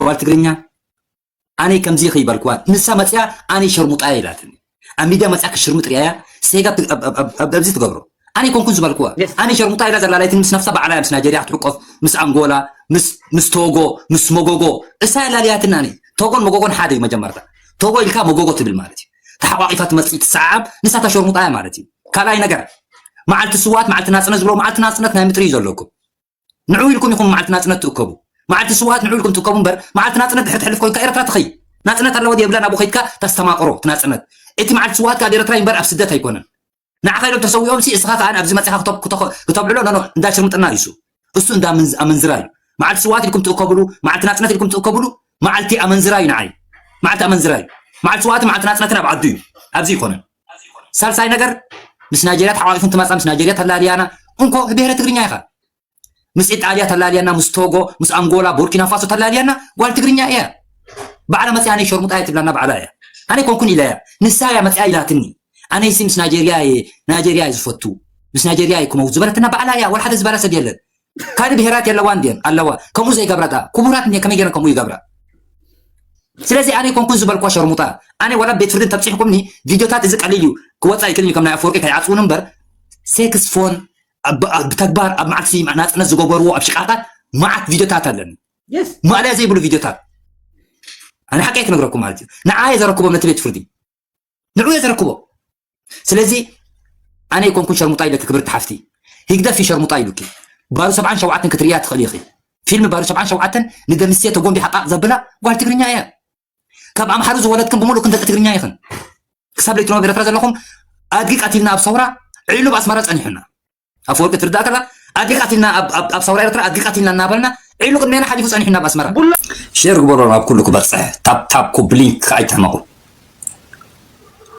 ጓል ትግርኛ ኣነይ ከምዚ ኢኺ በልክዋ ንሳ መጺኣ ኣነይ ሸርሙጣ እየ ኢላትኒ ኣብ ሚድያ መጺኣ ክሽርሙጥ ሪኣያ ሴጋ ኣብዚ ትገብሮ ኣነ ኣይኮንኩን ዝበልክዋ ኣነ ሸርሙጣ ኢላ ዘላላይትኒ ምስ ነፍሳ ባዕላ ምስ ናይጀርያ ክትሕቆፍ ምስ ኣንጎላ ምስ ቶጎ ምስ መጎጎ እሳ የላልያትኒ ኣነ ቶጎን መጎጎን ሓደ እዩ መጀመርታ ቶጎ ኢልካ መጎጎ ትብል ማለት እዩ ተሓቋቂፋ ትመፅእ ትሰዓዓብ ንሳታ ሸርሙጣ እያ ማለት እዩ ካልኣይ ነገር መዓልቲ ስዋት መዓልቲ ናፅነት ዝብሎ መዓልቲ ናፅነት ናይ ምጥሪ እዩ ዘለኩም ንዑ ኢልኩም ኢኹም መዓልቲ ናጽነት ትእከቡ መዓልቲ ስውኣት ንዑ ኢልኩም ትእከቡ እምበር መዓልቲ ናጽነት ድሕሪ ትሕልፍ ኮይንካ ኤርትራ ትኸይድ ናጽነት ኣለዋ ድያ የብላን ኣብኡ ከይድካ ተስተማቕሮ እቲ ናጽነት እቲ መዓልቲ ስውኣት ከኣ ኣብ ኤርትራ እምበር ኣብ ስደት ኣይኮነን ንዓኻ ኢሎም ተሰዊኦም ሲ እስኻ ከኣ ኣብዚ መጺኻ ክተብዕሎ ኖኖ እንዳ ሽርምጥና እዩ እሱ እሱ እንዳ ኣመንዝራ እዩ መዓልቲ ስውኣት ኢልኩም ትእከብሉ መዓልቲ ናጽነት ኢልኩም ትእከብሉ መዓልቲ ኣመንዝራ እዩ ንዓይ መዓልቲ ኣመንዝራ እዩ መዓልቲ ስውኣትን መዓልቲ ናጽነትን ኣብ ዓዱ እዩ ኣብዚ ኣይኮነን ሳልሳይ ነገር ምስ ናይጀርያ ተሓቋቂፉ እንትመፃ ምስ ናይጀርያ ተላልያና እንኮ ብሄረ ትግርኛ ኢኻ ምስ ኢጣልያ ተላልያና ምስ ቶጎ ምስ ኣንጎላ ቡርኪና ፋሶ ተላልያና ጓል ትግርኛ እያ ባዕላ መፅያ ነይ ሸርሙጣ እያ ትብላና ባዕላ እያ ኣነ ኮንኩን ኢላ እያ ንሳ እያ መፅያ ኢላትኒ ኣነይሲ ምስ ናይጀርያ እየ ናይጀርያ እየ ዝፈቱ ምስ ናይጀርያ እየ ክመውት ዝበለትና ባዕላ እያ ወላ ሓደ ዝበላ ሰብ የለን ካልእ ብሄራት የለዋን ድየን ኣለዋ ከምኡ ዘይገብራ ድኣ ክቡራት እንድየን ከመይ ገይረን ከምኡ ይገብራ ስለዚ ኣነ ኮንኩን ዝበልክዋ ሸርሙጣ ኣነ ወላ ቤት ፍርዲ ተብፂሕኩምኒ ቪድዮታት እዚ ቀሊል እዩ ክወፃ ይክእል እዩ ከም ናይ ኣፈወርቂ ከይዓፅውኑ እምበር ሴክስ ፎን ብተግባር ኣብ መዓልቲ ናፅነት ዝገበርዎ ኣብ ሽቃታት መዓት ቪድዮታት ኣለኒ ማእለያ ዘይብሉ ቪድዮታት ኣነ ሓቂ ኣይክነግረኩም ማለት እዩ ንዓየ ዘረክቦም ነቲ ቤት ፍርዲ ንዑ እየ ዘረክቦ ስለዚ ኣነ ይኮንኩን ሸርሙጣ ኢለኪ ክብርቲ ሓፍቲ ህግደፍ እዩ ሸርሙጣ ኢሉኪ ባሩ ሰብዓን ሸውዓተን ክትርእያ ትኽእሊ ኢኺ ፊልም ባሩ ሰብዓን ሸውዓተን ንደምስየ ተጎንቢሓ ቃቕ ዘብላ ጓል ትግርኛ እያ ካብ ኣምሓሩ ዝወለድክን ብምሉእ ክንደቂ ትግርኛ ኢኽን ክሳብ ለይትኖ ኤርትራ ዘለኹም ኣድጊ ቀቲልና ኣብ ሰውራ ዒሉብ ኣስመራ ጸኒሑና ኣፈወርቂ ትርዳእ ከላ ኣድጊ ቃቲልና ኣብ ሰውራ ኤርትራ ኣድጊ ቃቲልና እናበልና ዒሉ ቅድሜና ሓሊፉ ጸኒሑና ኣብ ኣስመራ ጉሎ ሼር ግበሮ ናብ ኩሉ ክበጽሕ ታፕታፕ ኮፕሊንክ ከኣይትሕመቑ